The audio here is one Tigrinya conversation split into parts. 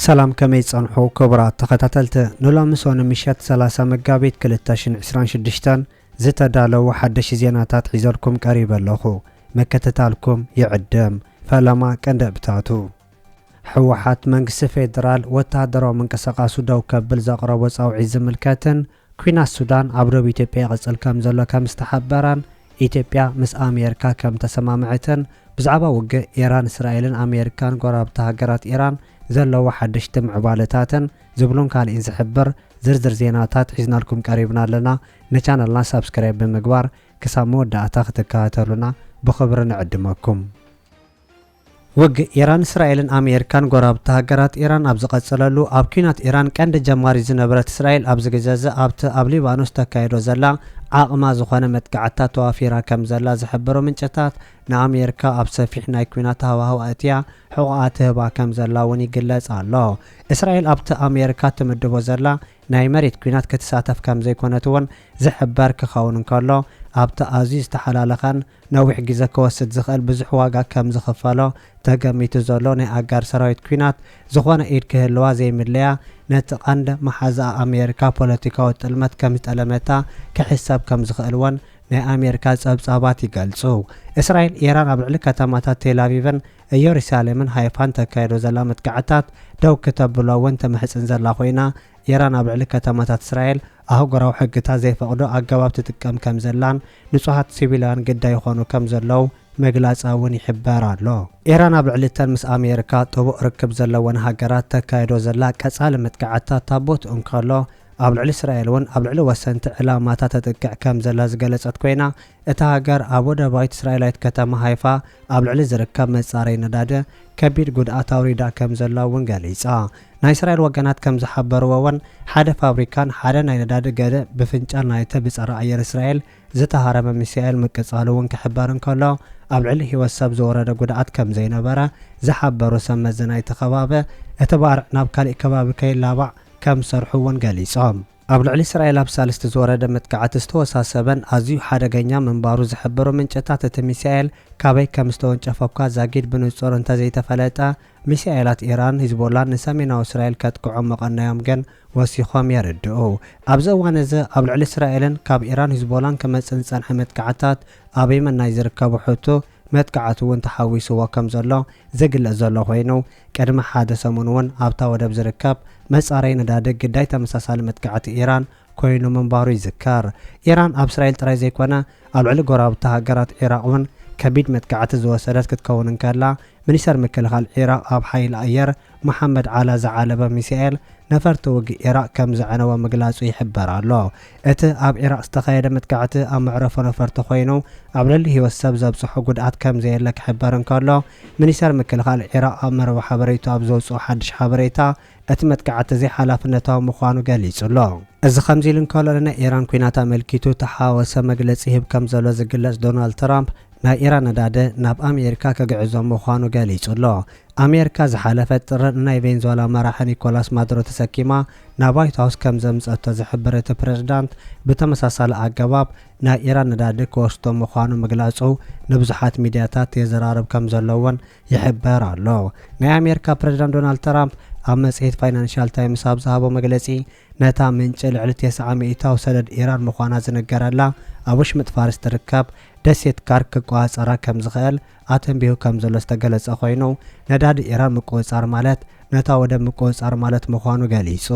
ሰላም ከመይ ትጸንሑ ክቡራት ተኸታተልቲ ንሎሚ ሶኒ ምሸት ሰላሳ መጋቢት ክልተ ሽን ዕስራን ሽዱሽተን ዝተዳለዉ ሓደሽቲ ዜናታት ሒዘልኩም ቀሪበ ኣለኹ ምክትታልኩም ይዕድም ፈለማ ቀንደብታቱ ህወሓት መንግስቲ ፌዴራል ወተሃደራዊ ምንቅስቓሱ ደው ከብል ዘቕረቦ ጻውዒት ዝምልከትን ኲናት ሱዳን ኣብ ዶብ ኢትዮጵያ ይቕጽል ከምዘሎ ከም ዝተሓበረን ኢትዮጵያ ምስ ኣሜርካ ከም ተሰማምዐትን ብዛዕባ ውግእ ኢራን እስራኤልን ኣሜርካን ጎረባብቲ ሃገራት ኢራን ዘለዎ ሓደሽቲ ምዕባለታትን ዝብሉን ካሊእን ዝሕብር ዝርዝር ዜናታት ሒዝናልኩም ቀሪብና ኣለና ንቻነልና ሳብስክራይብ ብምግባር ክሳብ መወዳእታ ክትከታተሉና ብኽብሪ ንዕድመኩም። ውግእ ኢራን፣ እስራኤልን ኣመየሪካን ጎረባብቲ ሃገራት ኢራን ኣብ ዝቐጸለሉ፣ ኣብ ኲናት ኢራን ቀንዲ ጀማሪት ዝነበረት እስራኤል ኣብዚ ግዘ'ዚ ኣብቲ ኣብ ሊባኖስ ተካይዶ ዘላ ዓቕማ ዝኾነ መጥቃዕትታት ተዋፊራ ከምዘላ ዝሕብሩ ምንጭታት፣ ንኣመየሪካ ኣብ ሰፊሕ ናይ ኲናት ሃዋህው ኣእትያ ሕቖኣ ትህባ ከምዘላ'ውን ይግለጽ ኣሎ። እስራኤል ኣብቲ ኣመየሪካ ትምድቦ ዘላ ናይ መሬት ኲናት ክትሳተፍ ከምዘይኮነት'ውን ዝሕበር ክኸውን እንከሎ፣ ኣብቲ ኣዝዩ ዝተሓላለኸን፣ ነዊሕ ግዘ ክወስድ ዝኽእል ብዙሕ ዋጋ ከም ዝኽፈሎ ተገሚቱ ዘሎ ናይ ኣጋር ሰራዊት ኲናት ዝኾነ ኢድ ክህልዋ ዘይምለያ ነቲ ቀንድ መሓዝኣ ኣሜሪካ ፖለቲካዊ ጥልመት ከም ዝጠለመታ ክሕሰብ ከም ዝኽእል ወን ናይ ኣሜሪካ ፀብፃባት ይገልፁ። እስራኤል ኢራን ኣብ ልዕሊ ከተማታት ቴል ኣቪቭን እዮሪሳሌምን ሃይፋን ተካይዶ ዘላ መጥቃዕትታት ደው ክተብሎ እውን ትምሕፅን ዘላ ኮይና ኢራን ኣብ ልዕሊ ከተማታት እስራኤል ኣህጉራዊ ሕግታት ዘይፈቕዶ ኣገባብ ትጥቀም ከም ዘላን ንጹሃት ሲቪላውያን ግዳይ ይኾኑ ከም ዘለዉ ምግላጻ እውን ይሕበር ኣሎ። ኢራን ኣብ ልዕሊ እተን ምስ ኣሜሪካ ጥቡቕ ርክብ ዘለወን ሃገራት ተካይዶ ዘላ ቀጻሊ መጥቃዕትታት ታቦት እንከሎ፣ ኣብ ልዕሊ እስራኤል እውን ኣብ ልዕሊ ወሰንቲ ዕላማታት ተጥቅዕ ከም ዘላ ዝገለጸት ኮይና፣ እታ ሃገር ኣብ ወደባዊት እስራኤላዊት ከተማ ሃይፋ ኣብ ልዕሊ ዝርከብ መጻረዪ ነዳዲ ከቢድ ጉድኣት ኣውሪዳ ከም ዘላ እውን ገሊጻ። ናይ እስራኤል ወገናት ከም ዝሓበርዎ'ወን፣ ሓደ ፋብሪካን ሓደ ናይ ነዳዲ ገደ ብፍንጫል ናይተ ብጸረ ኣየር እስራኤል ዝተሃረመ ሚሳኤል ምቅጻሉ'ውን ክሕበር እንከሎ፣ ኣብ ልዕሊ ህይወት ሰብ ዝወረደ ጉድኣት ከም ዘይነበረ ዝሓበሩ ሰብ መዚ ናይቲ ከባቢ፣ እቲ ባርዕ ናብ ካሊእ ከባቢ ከይላባዕ ከም ዝሰርሑ'ውን ገሊጾም። ኣብ ልዕሊ እስራኤል ኣብ ሳልስቲ ዝወረደ መጥቃዕቲ ዝተወሳሰበን ኣዝዩ ሓደገኛ ምንባሩ ዝሕብሩ ምንጭታት እቲ ሚሳኤል ካበይ ከም ዝተወንጨፈ'ኳ ዛጊድ ብንጹር እንተዘይተፈለጠ ሚሳኤላት ኢራን ሂዝቦላን ንሰሜናዊ እስራኤል ከጥቅዑ ምቐነዮም ግን ወሲኾም የርድኡ። ኣብዚ እዋን እዚ ኣብ ልዕሊ እስራኤልን ካብ ኢራን ሂዝቦላን ክመጽእ ዝጸንሐ መጥቃዕትታት ኣብ የመን ናይ ዝርከቡ ሑቱ መጥቃዕቲ'ውን ተሓዊስዎ ከም ዘሎ ዝግለጽ ዘሎ ኮይኑ፣ ቅድሚ ሓደ ሰሙን'ውን ኣብታ ወደብ ዝርከብ መጻረዪ ነዳዲ ግዳይ ተመሳሳሊ መጥቃዕቲ ኢራን ኮይኑ ምንባሩ ይዝከር። ኢራን ኣብ እስራኤል ጥራይ ዘይኮነ ኣብ ልዕሊ ጎረባብታ ሃገራት ዒራቕ'ውን ከቢድ መጥቃዕቲ ዝወሰደት ክትከውን እንከላ፣ ሚኒስተር ምክልኻል ዒራቕ ኣብ ሓይሊ ኣየር መሓመድ ዓላ ዝዓለበ ሚሳኤል ነፈርቲ ውግእ ኢራቕ ከም ዘዕነወ ምግላጹ ይሕበር ኣሎ። እቲ ኣብ ኢራቕ ዝተኻየደ መጥቃዕቲ ኣብ መዕረፎ ነፈርቲ ኮይኑ ኣብ ልዕሊ ህይወት ሰብ ዘብጽሖ ጉድኣት ከም ዘየለ ክሕበር እንከሎ፣ ሚኒስተር ምክልኻል ኢራቕ ኣብ መርበብ ሓበሬትኡ ኣብ ዘውጽኦ ሓድሽ ሓበሬታ እቲ መጥቃዕቲ ዘይሓላፍነታዊ ምዃኑ ገሊጹ ኣሎ። እዚ ከምዚ ኢሉ እንከሎ ንናይ ኢራን ኲናት ኣመልኪቱ ተሓዋወሰ መግለጺ ይህብ ከም ዘሎ ዝግለጽ ዶናልድ ትራምፕ፣ ናይ ኢራን ነዳዲ ናብ ኣሜሪካ ክግዕዞ ምዃኑ ገሊጹ'ሎ። ኣሜሪካ ዝሓለፈ ጥሪ ንናይ ቬንዝዋላ መራሒ ኒኮላስ ማዱሮ ተሰኪማ ናብ ዋይት ሃውስ ከም ዘምጽኣቶ ዝሕብር እቲ ፕረዚዳንት ብተመሳሳሊ ኣገባብ ናይ ኢራን ነዳዲ ክወስዶ ምዃኑ ምግላጹ ንብዙሓት ሚድያታት የዘራርብ ከም ዘሎ'ውን ይሕበር ኣሎ። ናይ ኣሜሪካ ፕረዚዳንት ዶናልድ ትራምፕ ኣብ መጽሔት ፋይናንሻል ታይምስ ኣብ ዝሃቦ መግለጺ፣ ነታ ምንጪ ልዕሊ ቴስዓ ሚኢታዊ ሰደድ ኢራን ምዃና ዝንገረላ ኣብ ወሽመጥ ፋርስ ትርከብ ደሴት ካርክ ክቆጻጸራ ከም ዝኽእል ኣተንቢሁ ከም ዘሎ ዝተገለጸ ኮይኑ፣ ነዳዲ ኢራን ምቁጽጻር ማለት ነታ ወደብ ምቁጽጻር ማለት ምዃኑ ገሊጹ።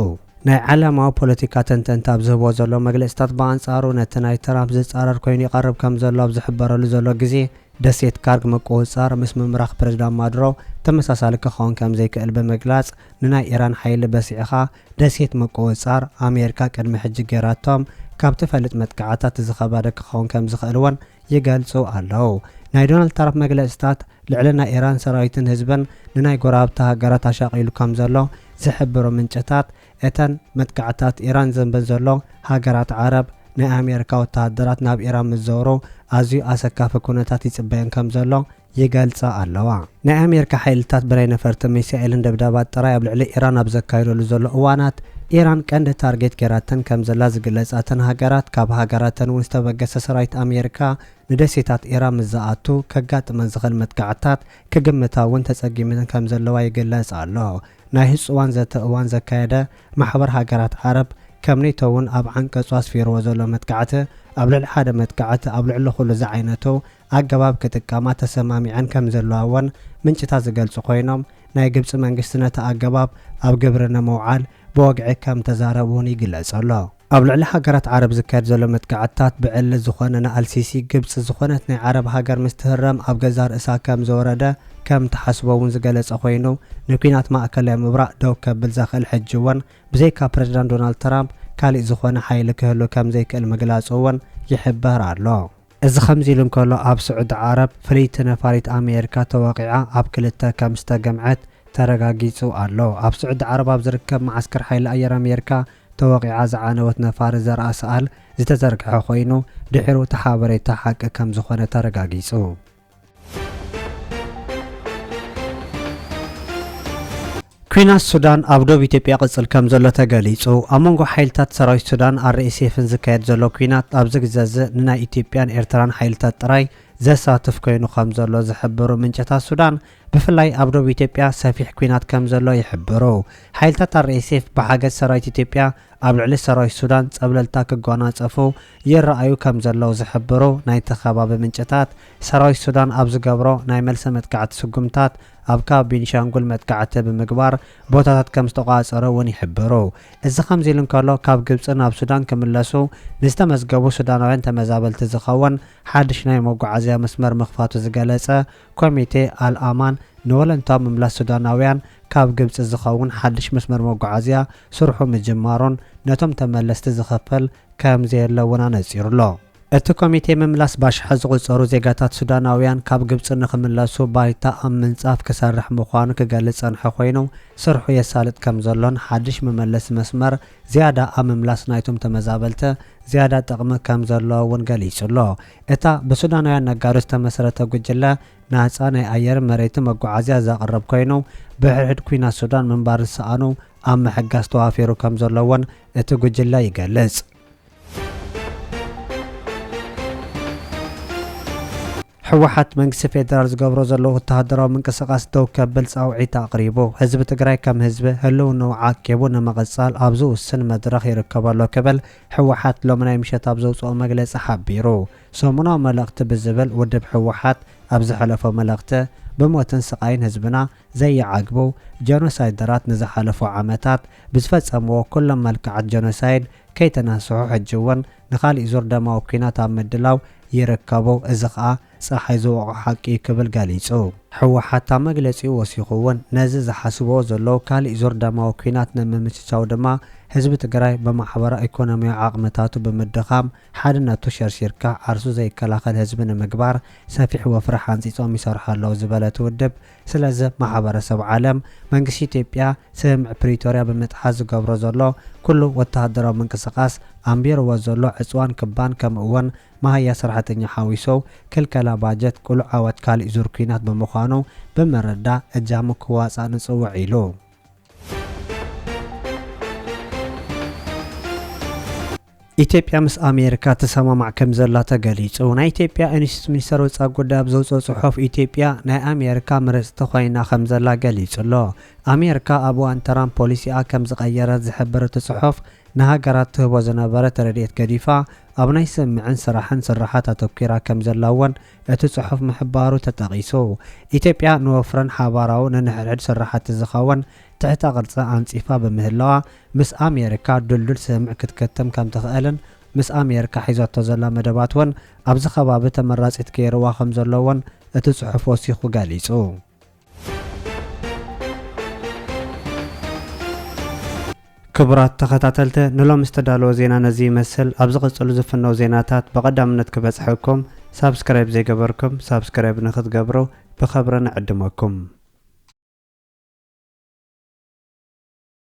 ናይ ዓለማዊ ፖለቲካ ተንተንቲ ኣብ ዝህብዎ ዘለዉ መግለጺታት ብኣንጻሩ ነቲ ናይ ትራምፕ ዝጻረር ኮይኑ ይቐርብ ከም ዘሎ ኣብ ዝሕበረሉ ዘሎ ግዜ፣ ደሴት ካርክ ምቁጽጻር ምስ ምምራኽ ፕረዚዳንት ማዱሮ ተመሳሳሊ ክኸውን ከም ዘይክእል ብምግላጽ ንናይ ኢራን ሓይሊ በሲዕኻ ደሴት ምቁውጻር፣ ኣሜሪካ ቅድሚ ሕጂ ገይራቶም ካብ ትፈልጥ መጥቃዕታት እዚ ከባደ ክኸውን ከም ዝኽእል'ውን ይገልጹ ኣለዉ። ናይ ዶናልድ ታራፕ መግለጺታት፣ ልዕሊ ናይ ኢራን ሰራዊትን ህዝብን ንናይ ጎረባብቲ ሃገራት ኣሻቒሉ ከም ዘሎ ዝሕብሩ ምንጭታት፣ እተን መጥቃዕትታት ኢራን ዘንበን ዘሎ ሃገራት ዓረብ፣ ናይ ኣሜሪካ ወተሃደራት ናብ ኢራን ምስ ዘውሩ ኣዝዩ ኣሰካፊ ኩነታት ይጽበየን ከም ዘሎ፣ ይገልጻ ኣለዋ። ናይ ኣሜሪካ ሓይልታት ብናይ ነፈርትን ሚሳኤልን ደብዳባት ጥራይ ኣብ ልዕሊ ኢራን ኣብ ዘካይደሉ ዘሎ እዋናት፣ ኢራን ቀንዲ ታርጌት ጌራተን ከም ዘላ ዝግለጻ እተን ሃገራት፣ ካብ ሃገራተን እውን ዝተበገሰ ሰራዊት ኣሜሪካ ንደሴታት ኢራን ምስ ዝኣቱ ከጋጥመን ዝኽእል መጥቃዕትታት ክግምታ እውን ተጸጊመን ከም ዘለዋ ይግለጽ ኣሎ። ናይ ህጹዋን ዘተ እዋን ዘካየደ ማሕበር ሃገራት ዓረብ፣ ከም ኔቶ እውን ኣብ ዓንቀጹ ኣስፊርዎ ዘሎ መጥቃዕቲ ኣብ ልዕሊ ሓደ መጥቃዕቲ ኣብ ልዕሊ ኩሉ ዝዓይነቱ ኣገባብ ክጥቀማ ተሰማሚዐን ከምዘለዋ እውን ምንጭታት ዝገልፁ ኮይኖም ናይ ግብፂ መንግስቲ ነቲ ኣገባብ ኣብ ግብሪ ንምውዓል ብወግዒ ከምተዛረቡ እውን ይግለፅ ኣሎ። ኣብ ልዕሊ ሃገራት ዓረብ ዝካየድ ዘሎ መጥቃዕትታት ብዕሊ ዝኾነ ንኣልሲሲ ግብፂ ዝኾነት ናይ ዓረብ ሃገር ምስ ትህረም ኣብ ገዛእ ርእሳ ከምዝወረደ ከምትሓስቦ እውን ዝገለፀ ኮይኑ ንኲናት ማእከላይ ምብራቕ ደው ከብል ዘኽእል ሕጂ እውን ብዘይካ ፕረዚዳንት ዶናልድ ትራምፕ ካሊእ ዝኾነ ሓይሊ ክህሉ ከምዘይክእል ምግላፁ እውን ይሕበር ኣሎ። እዚ ከምዚሉ እንከሎ ኣብ ስዑዲ ዓረብ ፍልይቲ ነፋሪት ኣሜሪካ ተወቒዓ ኣብ ክልተ ከምዝተገምዐት ተረጋጊጹ ኣሎ። ኣብ ስዑዲ ዓረብ ኣብ ዝርከብ መዓስከር ሓይሊ ኣየር ኣሜሪካ ተወቒዓ ዝዓነወት ነፋሪት ዘርኣ ሰኣል ዝተዘርግሐ ኮይኑ ድሒሩ እቲ ሓበሬታ ሓቂ ከምዝኾነ ተረጋጊጹ። ኲናት ሱዳን ኣብ ዶብ ኢትዮጵያ ይቕጽል ከምዘሎ ተገሊጹ። ኣብ መንጎ ሓይልታት ሰራዊት ሱዳን RSFን ዝካየድ ዘሎ ኲናት ኣብዚ ግዘ'ዚ ንናይ ኢትዮጵያን ኤርትራን ሓይልታት ጥራይ ዘሳትፍ ኮይኑ ከምዘሎ ዝሕብሩ ምንጭታት ሱዳን፣ ብፍላይ ኣብ ዶብ ኢትዮጵያ ሰፊሕ ኲናት ከምዘሎ ይሕብሩ። ሓይልታት RSF ብሓገዝ ሰራዊት ኢትዮጵያ ኣብ ልዕሊ ሰራዊት ሱዳን ጸብለልታ ክጓናጸፉ ይረኣዩ ከም ዘለዉ ዝሕብሩ ናይቲ ከባቢ ምንጭታት፣ ሰራዊት ሱዳን ኣብ ዝገብሮ ናይ መልሰ መጥቃዕቲ ስጉምታት ኣብ ካቢ ቢንሻንጉል መጥቃዕቲ ብምግባር ቦታታት ከም ዝተቖጻጸሩ እውን ይሕብሩ። እዚ ከምዚ ኢሉ እንከሎ ካብ ግብጺ ናብ ሱዳን ክምለሱ ንዝተመዝገቡ ሱዳናውያን ተመዛበልቲ ዝኸውን ሓድሽ ናይ መጓዓዝያ መስመር ምኽፋቱ ዝገለጸ ኮሚቴ ኣል-ኣማን ንወለንታዊ ምምላስ ሱዳናውያን ካብ ግብጺ ዝኸውን ሓድሽ መስመር መጓዓዝያ ስርሑ ምጅማሩን ነቶም ተመለስቲ ዝኽፈል ከምዘየለ እውን ኣነጺሩ ኣሎ። እቲ ኮሚቴ ምምላስ ባሽሓት ዝቑጸሩ ዜጋታት ሱዳናውያን ካብ ግብጺ ንኽምለሱ ባይታ ኣብ ምንጻፍ ክሰርሕ ምዃኑ ክገልጽ ዝጸንሐ ኮይኑ፣ ስርሑ የሳልጥ ከምዘሎን ሓድሽ መመለሲ መስመር ዝያዳ ኣብ ምምላስ ናይቶም ተመዛበልቲ ዝያዳ ጥቕሚ ከምዘለዎ እውን ገሊጹ ኣሎ። እታ ብሱዳናውያን ነጋዶ ዝተመስረተ ጉጅለ፣ ናጻ ናይ ኣየርን መሬትን መጓዓዝያ ዘቕርብ ኮይኑ፣ ብሕድሕድ ኲናት ሱዳን ምንባር ዝሰኣኑ ኣብ ምሕጋዝ ተዋፊሩ ከምዘሎ እውን እቲ ጉጅለ ይገልጽ። ህወሓት መንግስቲ ፌዴራል ዝገብሮ ዘሎ ወተሃደራዊ ምንቅስቓስ ደው ከብል ፃውዒት ኣቕሪቡ። ህዝቢ ትግራይ ከም ህዝቢ ህልውንኡ ዓቂቡ ንምቕፃል ኣብ ዝውስን መድረኽ ይርከበሎ ክብል ህወሓት ሎሚ ናይ ምሸት ኣብ ዘውፅኦ መግለፂ ሓቢሩ። ሰሙናዊ መልእኽቲ ብዝብል ውድብ ህወሓት ኣብ ዝሐለፎ መልእኽቲ ብሞትን ስቓይን ህዝብና ዘይዓግቡ ጀኖሳይደራት ንዝሓለፉ ዓመታት ብዝፈፀምዎ ኩሎም መልክዓት ጀኖሳይድ ከይተናስሑ ሕጂ እውን ንኻሊእ ዙር ደማዊ ኲናት ኣብ ምድላው ይርከቡ እዚ ከዓ ፀሓይ ዝወቕዖ ሓቂ እዩ ክብል ገሊፁ። ህወሓት ኣብ መግለፂኡ ወሲኹ እውን ነዚ ዝሓስብዎ ዘለዉ ካሊእ ዙር ደማዊ ኲናት ንምምችቻው ድማ ህዝቢ ትግራይ ብማሕበራዊ ኢኮኖሚያዊ ዓቕምታቱ ብምድኻም ሓድነቱ ሸርሺርካ ዓርሱ ዘይከላኸል ህዝቢ ንምግባር ሰፊሕ ወፍሪ ሓንጺጾም ይሰርሑ ኣለዉ ዝበለ እቲ ውድብ፣ ስለዚ ማሕበረሰብ ዓለም፣ መንግስቲ ኢትዮጵያ ስምምዕ ፕሪቶርያ ብምጥሓስ ዝገብሮ ዘሎ ኩሉ ወተሃደራዊ ምንቅስቓስ፣ ኣንቢርዎ ዘሎ ዕጽዋን ክባን ከምኡ'ውን መሃያ ሰራሕተኛ ሓዊሱ ክልከላ ባጀት ቅሉዕ ዓወት ካሊእ ዙር ኲናት ብምዃኑ ብምርዳእ እጃሙ ክዋጻእ ንጽውዕ ኢሉ። ኢትዮጵያ ምስ ኣሜሪካ ትሰማማዕ ከምዘላ ተገሊፁ። ናይ ኢትዮጵያ ኢንስቲትዩት ሚኒስተር ወፃኢ ጉዳይ ኣብ ዘውፅኦ ፅሑፍ ኢትዮጵያ ናይ ኣሜሪካ ምርፅቲ ኮይና ከምዘላ ገሊፁ'ሎ። ኣሜሪካ ኣብ እዋን ትራምፕ ፖሊሲኣ ከምዝቐየረት ዝሕብር እቲ ፅሑፍ ንሃገራት ትህቦ ዝነበረት ረድኤት ገዲፋ ኣብ ናይ ስምምዕን ስራሕን ስርሓት ኣተኲራ ከምዘላ እውን እቲ ፅሑፍ ምሕባሩ ተጠቒሱ። ኢትዮጵያ ንወፍርን ሓባራዊ ንንሕድሕድ ስራሕቲ ዝኸውን ትሕተ ቅርፂ ኣንፂፋ ብምህላዋ ምስ ኣሜሪካ ድልዱል ስምምዕ ክትከትም ከም ትኽእልን ምስ ኣሜሪካ ሒዛቶ ዘላ መደባት እውን ኣብዚ ከባቢ ተመራጺት ገይርዋ ከም ዘሎ እውን እቲ ጽሑፍ ወሲኹ ገሊጹ። ክቡራት ተኸታተልቲ ንሎሚ ዝተዳለወ ዜና ነዚ ይመስል። ኣብ ዝቕጽሉ ዝፍነው ዜናታት ብቐዳምነት ክበጽሐኩም ሳብስክራይብ ዘይገበርኩም ሳብስክራይብ ንክትገብሩ ብኸብሪ ንዕድመኩም።